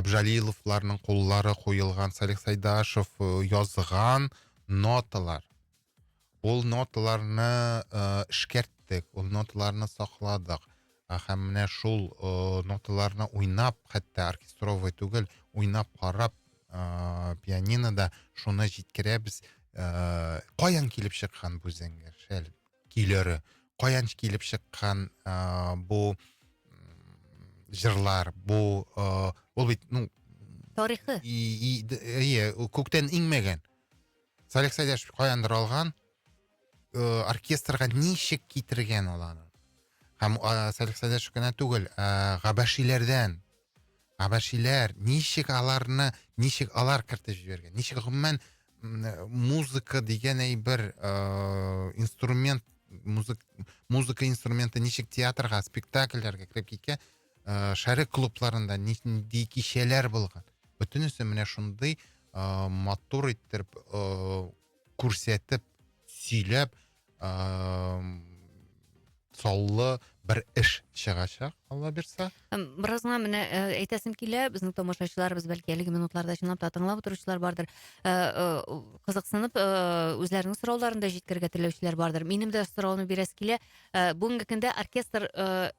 Абжалиловларның куллары куелган Салих Сайдашев э, язган ноталар. Ул ноталарны э, эшкәрттек, ул ноталарны сакладык. Һәм менә шул э, ноталарны уйнап, хәтта оркестровый түгел, уйнап карап пианинода шуны җиткерәбез. Каян килеп чыккан бу зәңгәр шәл? көйләре, каян килеп чыккан ә, бу җырлар, бу ә, ул бит ну тарихы. Ие, күктән иңмәгән. Салих Сәйдәшев каяндыр алган, э, оркестрга ничек китергән ул аны? Һәм Салих Сәйдәшев кенә түгел, ә, габәшиләрдән Хәбәшиләр, ничек аларны, ничек алар кертеп җибәргән? Ничек гомумән музыка дигән әйбер, э, инструмент, музык, музыка инструменты ничек театрга, спектакльләргә кереп киткән? Э, шәрык клубларында нинди кичәләр булган? Бөтенесе менә шундый э, матур иттереп, э, күрсәтеп сөйләп саллы бер эш чыгачак алла бирса бераз гына менә э, әйтәсем килә безнең тамашачыларыбыз бәлки әлеге минутларда чынлап та тыңлап утыручылар бардыр э, э, кызыксынып үзләренең сорауларын да җиткерергә теләүчеләр бардыр минем дә сорауны бирәсе килә бүгенге көндә оркестр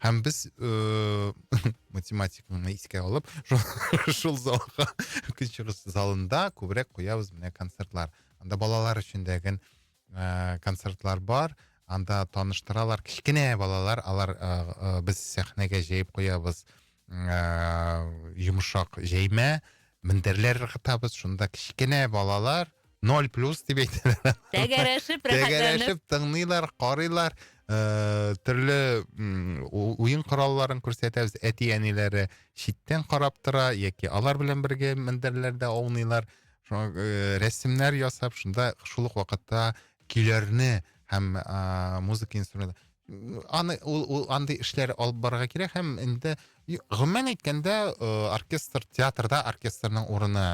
һәм без э, математиканы искә алып шул залга көнчыгыш залында күбрәк куябыз менә концертлар анда балалар өчен дәген э, концертлар бар анда таныштыралар кечкенә балалар алар э, без сәхнәгә җәеп куябыз ә, йомшак җәймә мендәрләр ыргытабыз шунда кечкенә балалар ноль плюс дип әйтәләр тәгәрәшеп тәгәрәшеп тыңлыйлар карыйлар ә, төрле уен коралларын күрсәтәбез әти әниләре читтән карап тора яки алар белән бергә мендәрләрдә аунылар э, рәсемнәр ясап шунда шул ук вакытта көйләрне һәм ә, музыка инструменты аны ул, ул андый эшләр алып барырга кирәк һәм инде гомумән әйткәндә э, оркестр театрда оркестрның урыны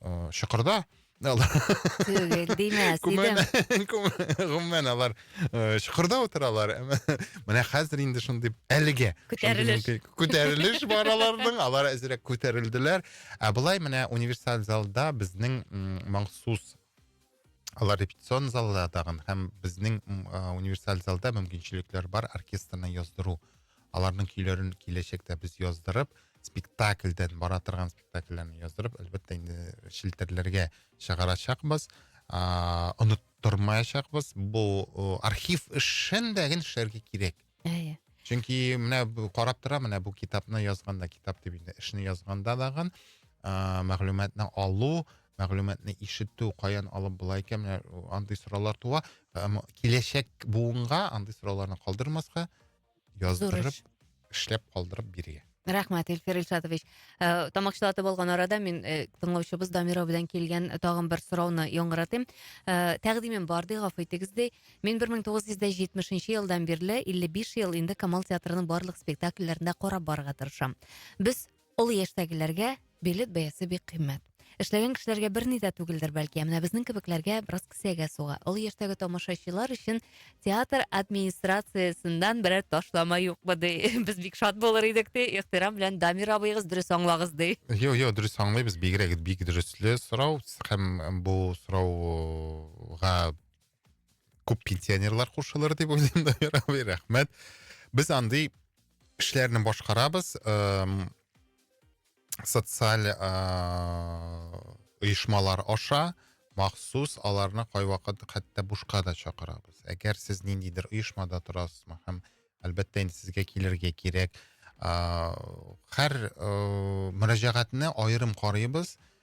э, чокырда түгел димәс идем гомумән алар э, чокырда утыралар менә хәзер инде шундый әлегә күтәрелеш күтәрелеш бар аларның алар әзерәк күтәрелделәр ә былай менә универсаль залда безнең махсус алар репетицион залда тагын һәм безнең универсаль залда мөмкинчелекләр бар оркестрны яздыру аларның көйләрен киләчәктә без яздырып спектакльдән бара торган спектакльләрне яздырып әлбәттә инде челтәрләргә чыгарачакбыз оныттырмаячакбыз бу архив эшен дә гел эшләргә кирәк әйе чөнки менә карап тора менә бу китапны язганда китап дип инде эшне язганда дагы мәгълүматны алу мәгълүматны ишетү каян алып була икән менә андый сораулар туа киләчәк буынга андый сорауларны калдырмаска яздырып эшләп калдырып бирегез рахмәт эльфир ильшатович ә, тамак чылатып алган арада мин ә, тыңлаучыбыз дамира белән килгән тагын бер сорауны яңгыратыйм ә, тәкъдимем бар ди гафу итегез ди мин бер мең тугыз йөз дә җитмешенче елдан бирле илле биш ел инде камал театрының барлык спектакльләрендә карап барырга тырышам без Олы яшьтәгеләргә билет бәясе бик кыйммәт. Эшләгән кешеләргә берни дә түгелдер, бәлки, ә менә безнең кебекләргә бераз кесәгә суга. Олы яшьтәге тамашачылар өчен театр администрациясеннән берәр ташлама юкмы, ди. Без бик шат булыр идек, ди. Ихтирам белән Дамир абыегыз дөрес аңлагыз, ди. Юк, юк, дөрес аңлыйбыз. Бигрәк бик дөресле сорау һәм бу сорауга күп пенсионерлар кушылыр дип уйлыйм дамир абый рәхмәт без андый эшләрне башкарабыз социаль оешмалар аша махсус аларны кайвакыт хәтта бушка да чакырабыз әгәр сез ниндидер оешмада торасызмы һәм әлбәттә инде сезгә килергә кирәк һәр мөрәҗәгатьне аерым карыйбыз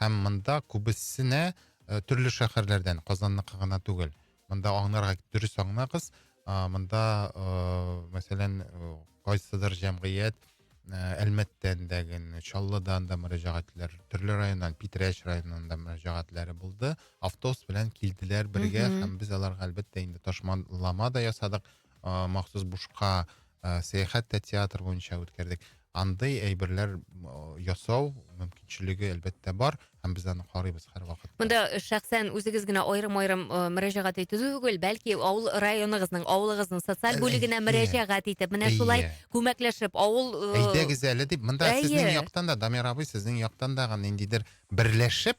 Һәм монда күбесенә э, төрле шәһәрләрдән, Казанныкы гына түгел. Монда аңнарга дөрес аңнагыз, а, монда, э, мәсәлән, э, кайсыдыр җәмгыять э, Әлмәттән дә генә, Чаллыдан да мөрәҗәгатьләр, төрле районнан, Питрәч районыннан да мөрәҗәгатьләре булды. Автобус белән килделәр бергә Мгм. һәм без аларга әлбәттә инде ташмалама да ясадык. махсус бушка сәяхәт тә театр буенча үткәрдек андый әйберләр ясау мөмкинчелеге әлбәттә бар һәм без аны карыйбыз һәрвакыт монда шәхсән үзегез генә аерым аерым мөрәҗәгать итү түгел бәлки авыл районыгызның авылыгызның социаль бүлегенә мөрәҗәгать итеп менә шулай күмәкләшеп авыл әйдәгез әле дип монда сезнең яктан да дамир абый сезнең яктан да ниндидер берләшеп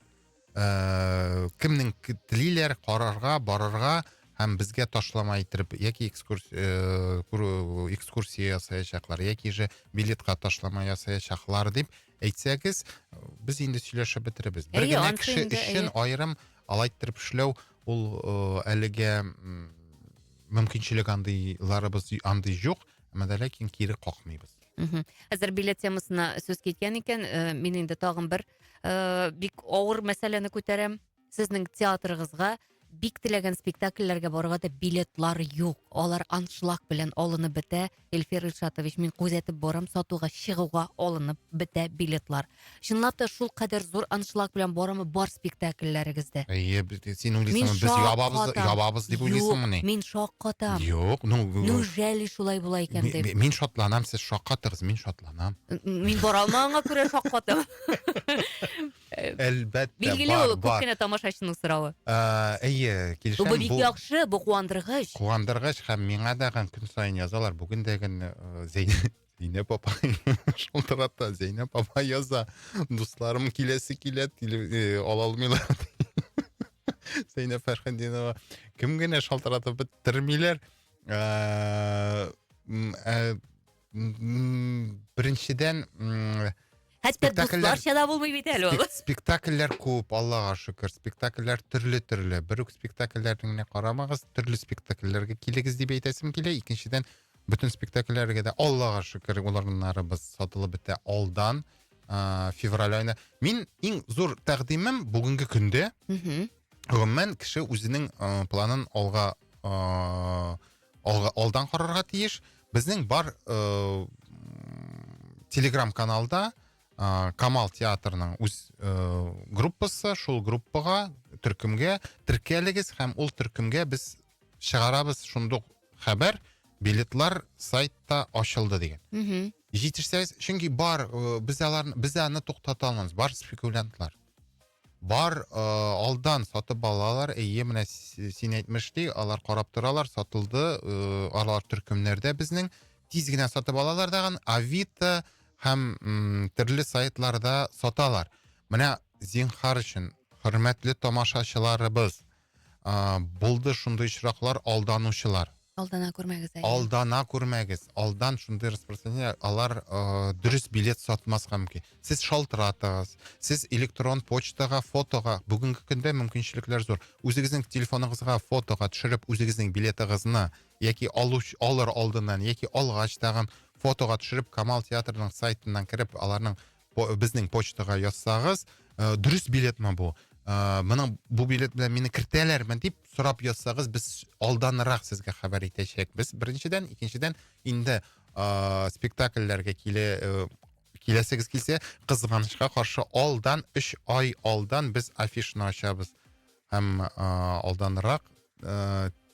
э, кемнең телиләр карарга, барырга һәм безгә ташлама иттереп яки экскурсия э, экскурсия ясаячаклар яки же билетка ташлама ясаячаклар дип әйтсәгез без инде сөйләшеп бетеребез бер генә кеше өчен аерым алай иттереп эшләү ул э, әлегә мөмкинчелек андыйларыбыз андый юк әмма ләкин кире какмыйбыз Хәзер билет темасына сүз киткән икән, э, мин инде тагын бер э, бик авыр мәсьәләне күтәрәм. Сезнең театрыгызга бик теләгән спектакльләргә барырга да билетлар юк. Алар аншлаг белән алынып бетә. Эльфир Ильшатович, мин күзәтеп барам, сатуга чыгуга алынып бетә билетлар. Чынлап та шул кадәр зур аншлаг белән барамы бар спектакльләрегездә? Әйе, б- син Мин уйлыйсыңмы, без шаккатам. ябабыз, ябабыз дип уйлыйсыңмы ни? Юк, мин шаккатам. Юк, ну, Ну, жәли шулай була икән ми- дип. ми- мин шатланам, сез шаккатыгыз, мин шатланам. кына. Мин бара алмаганга күрә шаккатым. Әлбәттә, Билгеле ул күп кенә тамашачының соравы. Әйе, килешәм. Бу бик яхшы, бу куандыргыч. Куандыргыч һәм миңа да көн саен язалар. Бүген дә гын Зәйнәп апа шалтырата, Зәйнәп апа яза. Дусларым киләсе килә, ала алмыйлар. Зәйнәп Фәрхәдинова кем генә шалтыратып бетермиләр. Беренчедән, Хәтта дусларча да булмый бит әле ул. Спектакльләр күп, Аллага шөкер. Спектакльләр төрле-төрле. Бер үк спектакльләрне генә карамагыз, төрле спектакльләргә килегез дип әйтәсем килә. Икенчедән, бөтен спектакльләргә дә Аллага шөкер, уларнарыбыз сатылып бетә алдан. февраль айына. Мин иң зур тәкъдимем бүгенге көндә. Гомумән, кеше үзенең планын алга алга, алдан карарга тиеш. Безнең бар э, телеграм каналда э, Камал театрының үз э, группасы, шул группага төркемгә теркәлегез һәм ул төркемгә без чыгарабыз шундук хәбәр билетлар сайтта ачылды деген. Угу. Җитешсәгез, чөнки бар э, без аларны без аны туктата алмабыз, бар спекулянтлар. Бар, э, алдан сатып алалар, әйе, менә син әйтмештей, алар карап торалар, сатылды, э, алар төркемнәрдә безнең, тиз генә сатып алалар дагын, Авито һәм төрле сайтларда саталар. Менә зинхар өчен, хөрмәтле тамашачыларыбыз, Ә, булды шундый очраклар, алданучылар. Алдана күрмәгез әле. Алдана күрмәгез. Алдан шундый распространение, алар э, дөрес билет сатмаска мөмкин. Сез шалтыратыгыз, сез электрон почтага, фотога, бүгенге көндә мөмкинчелекләр зур. Үзегезнең телефоныгызга фотога төшереп, үзегезнең билетыгызны яки алуч, алыр алдыннан, яки алгач тагын фотога төшереп, Камал театрының сайтыннан кереп, аларның безнең почтага язсагыз ә, дөрес билетмы бу ә, моның бу билет белән мине кертәләрме дип сорап язсагыз без алданрак сезгә хәбәр итәчәкбез беренчедән икенчедән инде ә, спектакльләргә киле ә, киләсегез килсә кызганычка каршы алдан өч ай алдан без афишны ачабыз һәм ә, алданрак ә,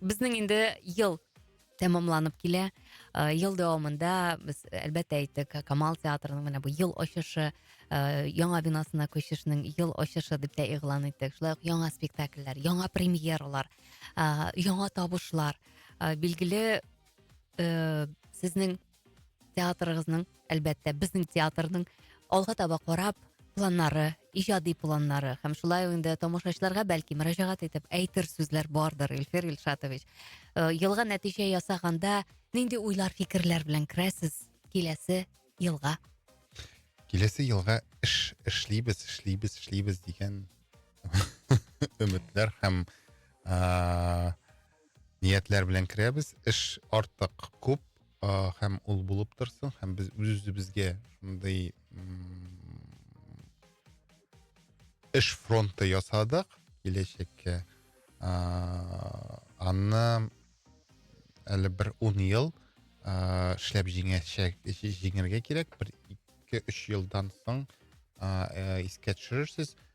Безнең инде ел тәмамланып килә. Э, ел дәвамында без әлбәттә әйттек, Камал театрының менә бу ел ачышы, э, яңа бинасына күчешнең ел ачышы дип тә игълан иттек. Шулай ук яңа спектакльләр, яңа премьералар, э, яңа табышлар. Билгеле, сезнең театрыгызның әлбәттә безнең театрның алга таба карап планнары иҗади планнары һәм шулай инде тамашачыларга бәлки мөрәҗәгать итеп әйтер сүзләр бардыр ильфир ильшатович э, елга нәтиҗә ясаганда нинди уйлар фикерләр белән керәсез киләсе елга киләсе елга эш эшлибез эшлибез эшлибез дигән өметләр һәм э, ниятләр белән керәбез эш артык күп ә, һәм ул булып торсын һәм без үз үзебезгә шундый эш фронты ясадык киләчәккә ә, аны әле бер ун ел ә, эшләп җиңәчәк җиңергә кирәк бер ике өч елдан соң ә, ә, искә төшерерсез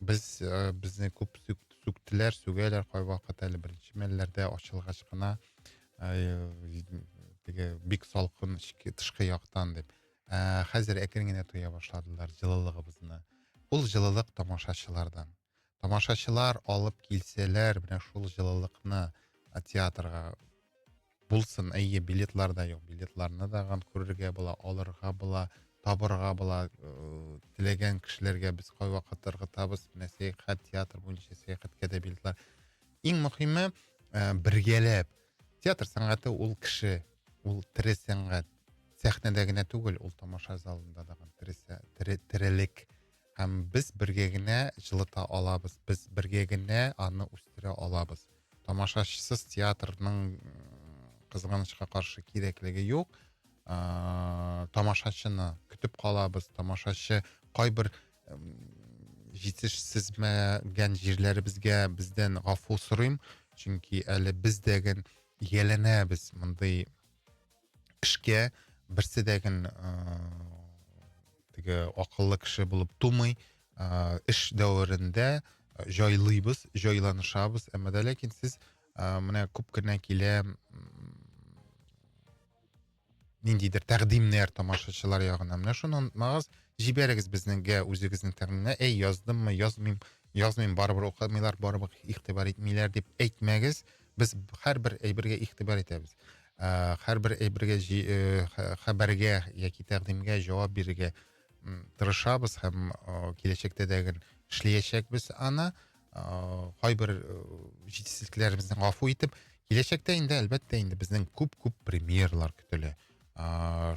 Без э, безне күп сүктеләр, сүгәләр кайвакыт әле беренче мәлләрдә ачылгач кына теге бик салкын тышкы яктан дип. Ә хәзер әкрен генә тоя башладылар җылылыгыбызны. Ул җылылык тамашачылардан. Тамашачылар алып килсәләр, менә шул җылылыкны театрга Булсын, әйе, билетлар да юк. Билетларны да ган күрергә була, алырга була, табырга була. Э, теләгән кешеләргә без кайвакыт ыргытабыз. Менә сәяхәт, театр буенча сәяхәткә дә билетлар. Иң мөһиме, э, бергәләп. Театр сәнгате ул кеше, ул тере сәнгать. Сәхнәдә генә түгел, ул тамаша залында да, тере, терелек. һәм без бергә генә җылыта алабыз без бергә генә аны үстерә алабыз тамашачысыз театрның кызганычка каршы кирәклеге юк ә, тамашачыны көтеп калабыз тамашачы кайбер җитешсезмәгән җирләребезгә бездән гафу сорыйм чөнки әле без дәген ияләнәбез мондый эшкә берсе дә гел теге акыллы кеше булып тумый ыыы эш дәверендә җайлыйбыз җайланышабыз әмма дә ләкин сез ыыы менә күп кенә килә ниндидер тәкъдимнәр тамашачылар ягыннан менә шуны онытмагыз җибәрегез безнегә үзегезнең тәкъдимне әй яздыммы язмыйм язмыйм барыбер укымыйлар барыбер игътибар итмиләр дип әйтмәгез Без һәрбер әйбергә игътибар итәбез. Ә, һәрбер әйбергә э, хәбәргә яки тәкъдимгә җавап бирергә тырышабыз һәм киләчәктә дә эшләячәкбез аны. Кайбер э, җитешсезлекләребезне гафу итеп, киләчәктә инде әлбәттә инде безнең күп-күп премьерлар көтелә.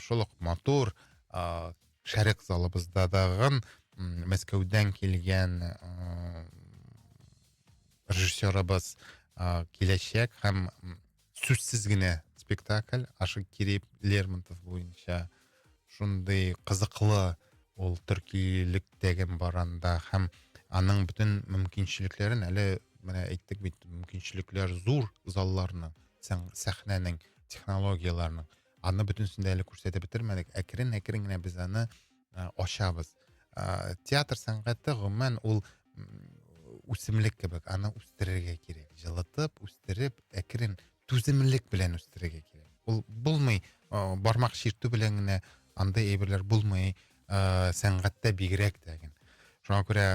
Шул ук матур шәрык залыбызда дагын Мәскәүдән килгән режиссерыбыз ә, киләчәк һәм сүзсез генә спектакль ашык кереп лермонтов буенча шундый кызыклы ул төркилектәге баранда һәм аның бөтен мөмкинчелекләрен әле менә әйттек бит мөмкинчелекләр зур залларны сәхнәнең технологияләрнең Аны бөтенесен дә әле күрсәтеп бетермәдек. Әкрен-әкрен генә без аны ә, ачабыз. Ә, театр сәнгате гомумән ул үсемлек кебек, аны үстерергә кирәк. Җылытып, үстереп, әкрен түземлек белән үстерергә кирәк. Ул булмый, ә, бармак чиртү белән генә андай әйберләр булмый, ә, сәнгатьтә бигрәк тә. Шуңа күрә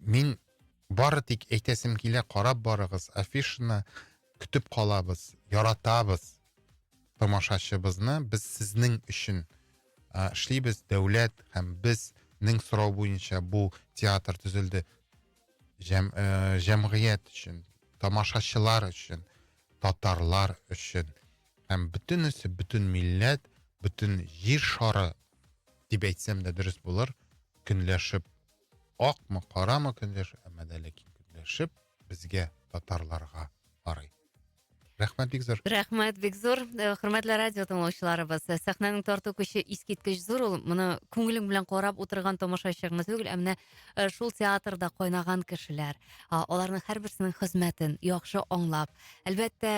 мин бары тик әйтәсем килә, карап барыгыз афишаны, Көтеп калабыз, яратабыз тамашачыбызны. Без сезнең өчен а, эшлибез, дәүләт һәм без нең сорау буенча бу театр төзелде Җәм, ә, э, җәмгыять өчен тамашачылар өчен татарлар өчен һәм бөтенесе бөтен милләт бөтен җир шары дип әйтсәм дә дөрес булыр көнләшеп Акмы, карамы көндәш, әмма дә ләкин көндәшеп безгә татарларга карый. Рәхмәт бик зур. Рәхмәт бик зур. Э, хөрмәтле радио тыңлаучыларыбыз, э, сәхнәнең тарту көче искиткеч зур ул. Моны күңелең белән карап утырган тамашачы гына түгел, ә менә э, шул театрда кайнаган кешеләр, аларның һәрберсенең хезмәтен яхшы аңлап, әлбәттә,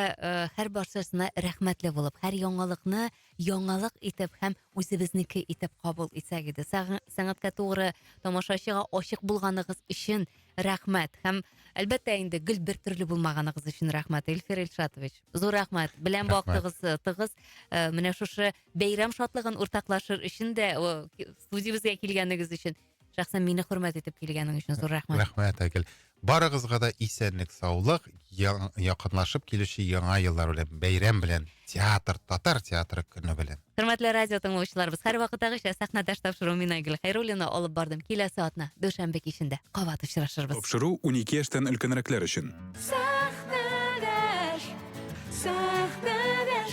һәр баршасына рәхмәтле булып, һәр яңалыкны яңалык итеп һәм үзебезнеке итеп кабул итсәк иде. Сәнгатькә тугры, тамашачыга ачык булганыгыз өчен рәхмәт. Һәм әлбәттә инде гел бер төрле булмаганыгыз өчен рәхмәт, Илфир Илшатович. Зур рәхмәт. Белән вакытыгыз э, тыгыз. Э, менә шушы бәйрәм шатлыгын уртаклашыр өчен дә, студиябезгә килгәнегез өчен Шәхсән мине хөрмәт итеп килгәнең өчен зур рәхмәт. Рәхмәт, Айгөл. Барыгызга да исәнлек, саулык, якынлашып килүче яңа еллар белән, бәйрәм белән, театр, татар театры көне белән. Хөрмәтле радио тыңлаучыларыбыз, һәрвакыттагыча сәхнәдәш тапшыру мин Айгөл Хәйруллина алып бардым. Киләсе атна дүшәмбе кичендә кабат очрашырбыз. Тапшыру 12 яшьтән өлкәнрәкләр өчен. Сәхнәдәш, сәхнәдәш.